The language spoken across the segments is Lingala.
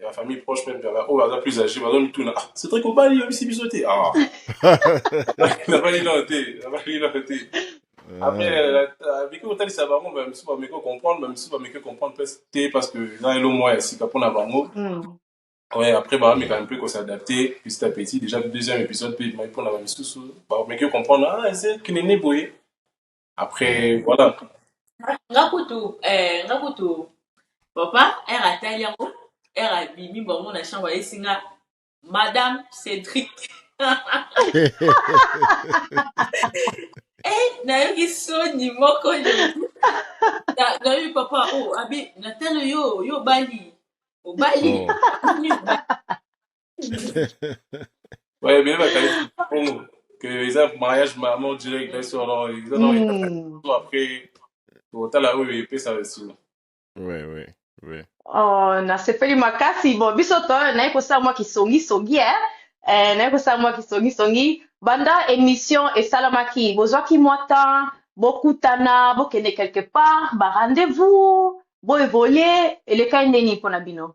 ya ba famille proche meme ya baoyo baza plus age bazomituna ah cedrik obali yebisi biso te ah nabali nao te nabali nao te après abiki kotalisa bango bamisusu bameki ocomprendre bamisusu bameki ocomprendre mpe te parce que eza elo mwa ya sika mpona bango Ouais, après, bah, mais quand même, peut s'adapter petit à petit. Déjà, le deuxième épisode, puis, bah, pour la même sous, bah, mais que comprendre, ah, c'est qu'il est né, boy. après voilà nga kutu eh, nga kutu papa ere atali yango ere abimi bango na chambre ayesi nga madame cédric eh, nayoki soni moko nayoki papa o oh, abi natalo yo yo obali obali oh. Ouais, mais va caler bon que ils ont mariage maman direct là sur leur ils ont ils ont Hmm. tout après au tal là oui puis ça aussi. Ouais, ouais, ouais. Oh, nasepeli makasi bo biso to naye kosala mwa kisongisongi eh. Eh, naye kosala mwa kisongisongi banda émission esalamaki bozwaki mwa temps bokutana bokende quelque part ba rendez-vous boevolue elekai ndeni mpo na bino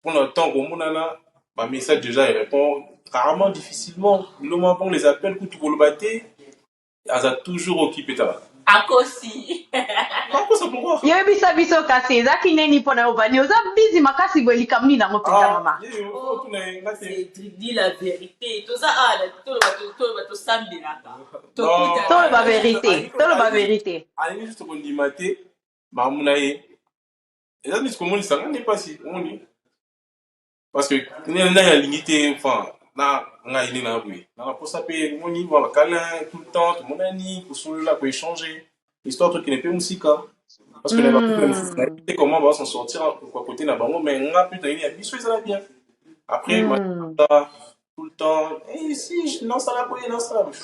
Pour le temps, Gomunana, ma message déjà, il répond rarement, difficilement. Le moment pour les appels, coup tout le bâté, elle a toujours occupé ta akosi makosa pourquoi yebisa biso kasi eza kineni mpo na yo vani oza bizi makasi boye likambo nini yango mpenza ah, mama di la vérité toza awa ah, toloba tosambelaka toloba vérité toloba vérité alingi juste kondima te mamu na ye eza neti komonisa nga nde mpasi omoni parce que nani nani alingi te enfin na ngai nde na boye na naposa mpe omoni mwa bakalin tout le temps tomonani kosolola koechange histoire tokende mpe mosika parce que na bakupe mosusu na te comment baza s'en sortir kwa kote na bango mais nga mpe tayini ya biso ezala bien après ma tout le temps eh, si je- nasala boye nasala boye.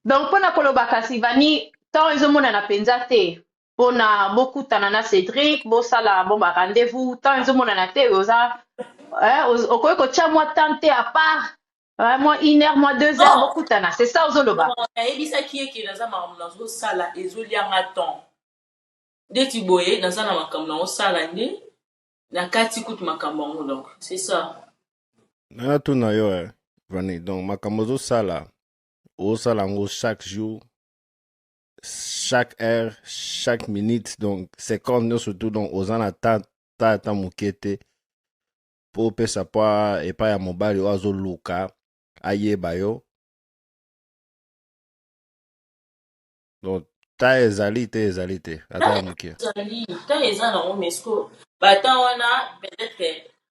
donc mpo na koloba kasi vani temps ezomonana mpenza te pona bokutana na Cedric bosala bon ba rendez-vous temps ezomonana te oza eh, oz- okoki kotya mwa temps te à part eh, mwa une heure mwa deux heures Non. bokutana c'est ça ozoloba Bon, nayebisaki ye ke naza makambo nazosala ezolia nga temps ndeti boye naza na makambo naosala nde na kati kutu makambo yango donc c'est ça nana tuna yo eh, vani donc makambo ozosala osala yango chaque jour chaque heure chaque minute donc seconde nyonso tout donc oza na ta ta ata moke te mpo opesa mpo epai ya mobali oyo azoluka ayeba yo donc ta ezali te ezali te ata ya moke ezali ta eza nango mesko bata wana peut-être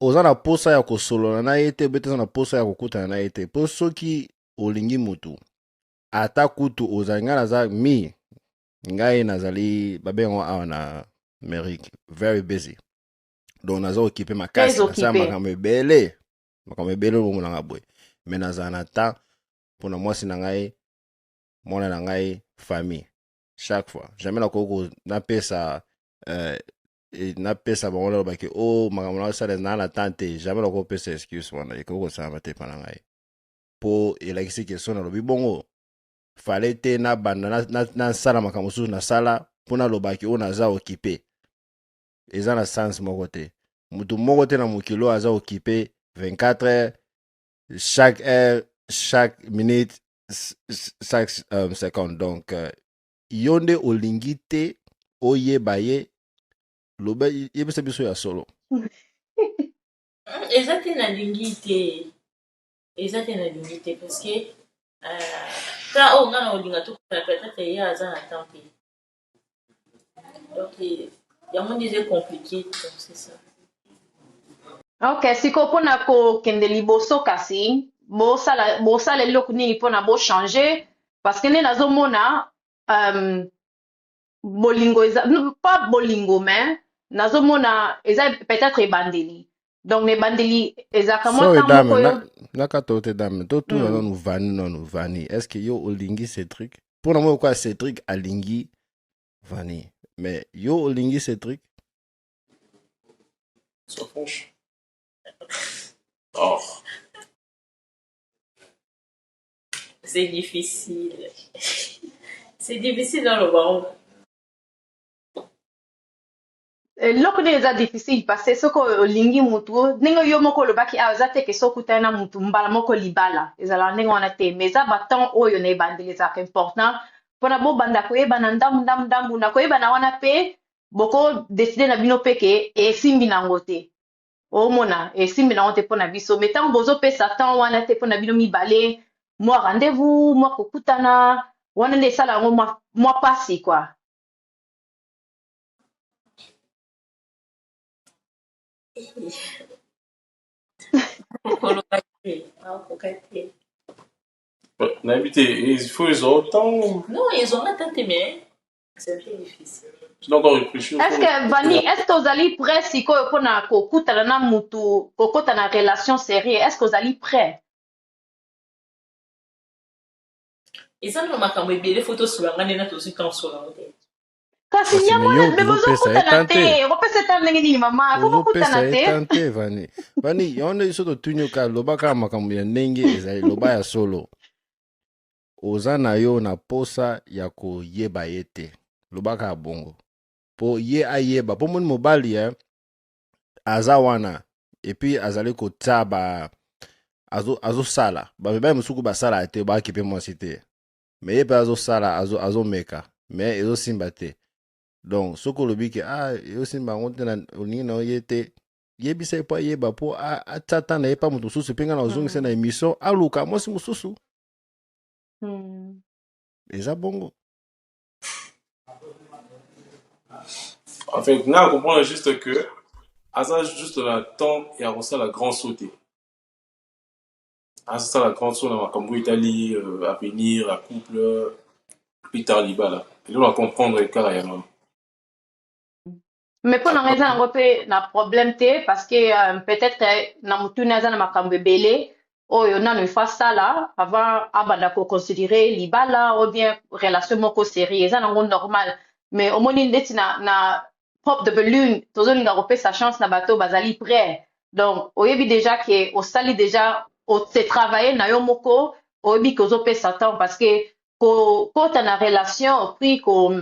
oza na posa ya kosolola na ye te obe te oza na posa ya kokutana na ye te mpo soki olingi motu ata kutu ozali ngai naza mi ngai nazali babengango awa na amerique very busy donc naza okipe makasi nasala makambo ebele makambo ebele olongo na ngai boye me nazala na temps mpo na mwasi na ngai mwana na ngai famille chaque fois jamais nakoki napesa euh, napesa bango naloba ke o oh, makambo na osala naa na temps te jamais nakoki kopesa excuse wana ekoki kosalama te mpa na ngai mpo elakisi ke so nalobi bongo fale te nabanda nasala makambo mosusu nasala mpo nalobaki oyo oh, naza okipe eza na sens moko te motu moko te na mokili oyo aza okipe 24 heures chaque heure chaque minute chaque euh, seconde donc euh, yo nde olingi te oyeba ye loba yebisa biso ya solo eza te nalingi te eza te nalingi te parce que euh, ta oyo nga na olinga tokutana peut-être ye aza na temps te donc yango nde eza compliqué donc c'est ça ok sikoyo mpona kokende liboso kasi bosala bosala eloko nini mpona bochange parce que nde nazomona um, bolingo eza pas bolingo mais nazomona eza peut-être ebandeli donc na ebandeli ezalaka mwa ntango moko yo naka to te dame totuna mm. nanu vani nanu vani est ce que yo olingi cétric mpo na moi okoya cétric alingi vani mais yo olingi cétric Sois franche. Oh. c'est difficile c'est difficile dans le monde eloko nini eza difficile parce soki olingi mutu ndenge yo moko olobaki awa eza te ke soki okutani na mutu mbala moko libala ezalaka ndenge wana te mais eza batemp oyo na ebandeli ezalaka important mpona bobanda koyebana ndambu ndambu ndambu na koyebana wana mpe boko decide na bino mpe ke esimbi nango te omona esimbi nango te mpo na biso me ntango bozopesa temps wana te mpo na bino mibale mwa rendez-vous mwa kokutana wana nde esala yango mwa, mwa pasi kua koloba te akoka te nayebi te il faut ezwa otango non ezwanga ta te mais Est-ce que Vanny, est-ce que vous allez prêt si quoi qu'on a cocotte à la moutou, cocotte à la relation sérieuse, est-ce que vous allez prêt? Et ça, nous marquons bien les photos sur la main, nous avons aussi quand sur la route. Kasi ya mwana bebe ozokutana te okopesa eta ndenge nini mama kokokutana te vani vani yango nde biso totuni oka lobaka makambo ya ndenge ezali loba ya solo oza na yo na posa ya koyeba ye te lobaka ya bongo po ye ayeba po moni mobali ya eh, aza wana epuis azali kotia ba azosala azo bamibali mosuku basala te bakipe mwasi te me ye mpe azosala azomeka azo me ezosimba te donc soki olobi ke ah, ezosimba yango te olingi na yo ye te yebisa ye mpo ayeba mpo atya ntan na ye mpa moto mosusu mpe ngai na ozongisa na émission aluka mwasi mosusu Hmm. Eza bongo. En fait, na comprendre juste que aza juste na temps ya kosala grand saut te. Asala grand saut na makambo etali euh, avenir, la couple, plus tard libala. Eloko na comprendre kaka yango. mais mpo na ngai eza nango mpe na problème te parce que euh, peut-être euh, na motuni aza na makambo ebele oyo nano il faut asala avant abanda koconsidere libala ou bien relation moko série eza nango normal mais omoni ndeti na, na pop de belune tozolinga kopesa chance na bato bazali près donc oyebi déjà ke osali déjà ose travaille na yo moko oyebi ke ozopesa temps parce que kokota na relation puis ko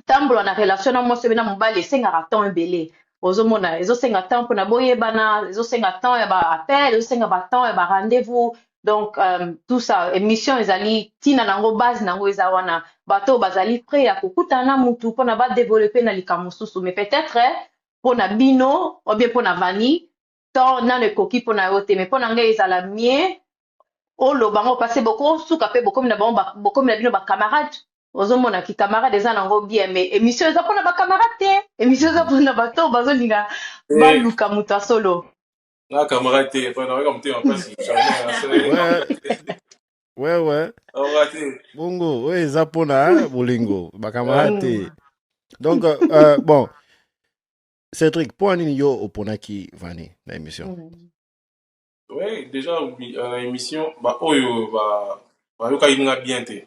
tambola na relation na mwasi obe na mobali esengaka temps ebele ozomona ezosenga temps mpona boyebana ezosenga temps ya ba appel ezosenga ba temps ya ba rendez-vous donc um, tout ça émission ezali ntina na yango base na yango eza wana bato oyo bazali prêt ya kokutana na mutu mpona badeveloppe na likambo mosusu mais peut-être mpona bino obie mpona vani temps nanu ekoki pona yo te mais pona ngai ezala mieux oloba yango parce que boko suka pe bokomi na bango bokomi na bino ba camarades ozomona ki camarade eza nango bien mais emission eza pona ba camarade te emission eza pona bato bazolinga eh. baluka moto ya solo na camarade te epai na weka motema mpasi wewe bongo oyo eza mpona bolingo bakamarade te donc euh, bon Cédric, pour nini yo oponaki Vani na émission mm. Oui, déjà euh, na émission ba oyo ba bayokaki nga bien te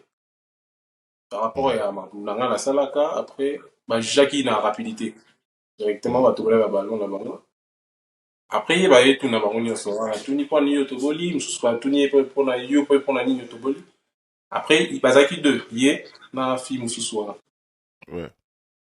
par rapport mm. ya makambo na nga nasalaka après bajujaki na rapidité directement mm. batobela ba ballon na bango après ye baye tuna bango nyonso ah, atuni mpo nini yo toboli mosusu batuni ye mpo na yo mpo mpo na nini yo toboli après bazalaki deux ye na fille mosusu wana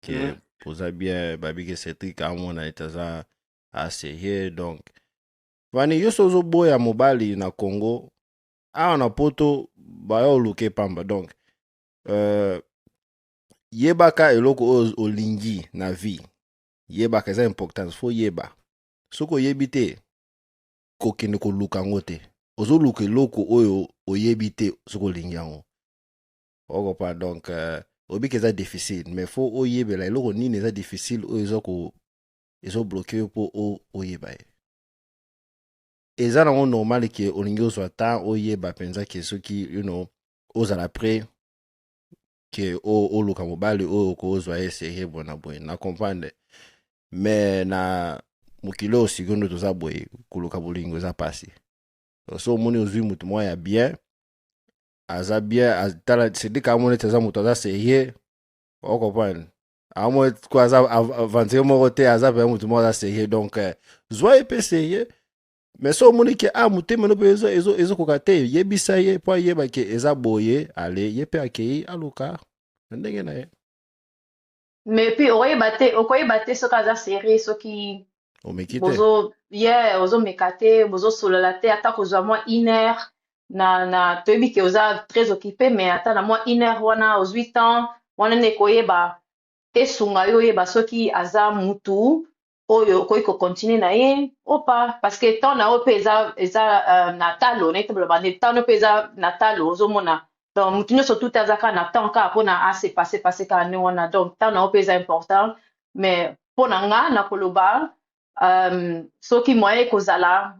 ke Yeah. oza bien babi ke cedric amona ete aza aserie donc vani yo so ozoboya mobali na congo awa na poto baya oluke pamba donc euh, yebaka eloko oyo olingi na vie yebaka eza importance fo yeba soki oyebi te kokende koluka yango te ozoluka eloko oyo oyebi te soki olingi yango okopa donc euh, obika eza difficile mais fo oyebela eloko nini eza difficile oyo eza ko ezobloke yo mpo oyeba ye eza nango normal ke olingi ozwa ntan oyeba mpenza ke soki you know, ozala pre ke oluka mobali oyo okozwa ye serie boye na boye na comprendre me na mokili oyo sikondo toza boye koluka bolingo eza mpasi so omoni ozwi motu mwa ya bien aza bien tala sedika amoni ete aza moto aza serieux okomprendre amoni ko aza aventurier moko te aza mpenza moto moko aza serieux donc eh, zwa ye mpe serieux mais so omoni ke a ah, motema no mpe ezokoka te yebisa ye mpo ayeba ke eza boye ale ye mpe akei aluka na ndenge na ye mais puis okoyeba te okoyeba te soki aza serie soki omeki te bozo ye ozomeka te bozosolola te ata kozwa mwa une heure na na toyebi ke oza très occupé mais ata na mwa une heure wana ozwi temps wana nde ekoyeba esunga yo oyeba soki aza mutu oyo okoki ko continuer na ye ou pas parce que temps na yo pe eza eza uh, na talo na etobola bande temps no pe eza na talo ozomona donc mutu nyonso tout aza kaka na temps kaka pona a se passer passer kaka ndenge wana donc temps na yo pe eza important mais pona nga na koloba um, soki moyen ekozala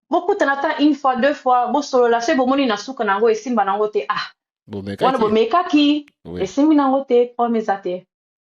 bokutana ata une fois deux fois bosolola soki bomoni na suka na yango esimba na yango te ah wana bomekaki esimbi na yango te problème eza te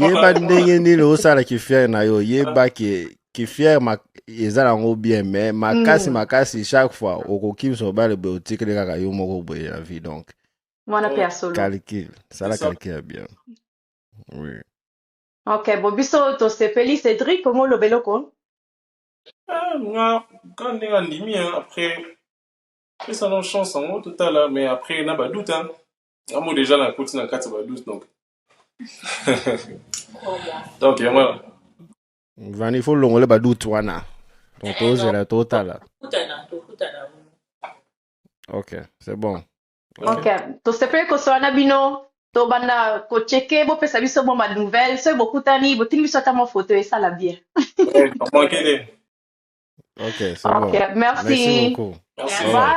yeba ndenge nini osala kifiere na yo yeba ke kifiere eza nango bien mais makasi mm. makasi chaque fois okokimisa obale boye otikeli kaka yo moko boye na vie donc mwana mpe ya solo calcul sala calcul ya bien oui ok bo biso tosepeli cédric omo oloba eloko ah, nga ka ndenge andimi après pesa no chance yango totala mais après na badoute yango déjà nakoti na kati ya badoute donc donc yango vani fo longole badute wana donc eh, tozela totala ok c'est bon ok tosepeli kosola na bino tobanda kocheke bopesa biso mwa banouvelle soki bokutani botindi biso ata mwa foto esala bien eh, ok c'est bon merci, merci beaucoup merci. Bye.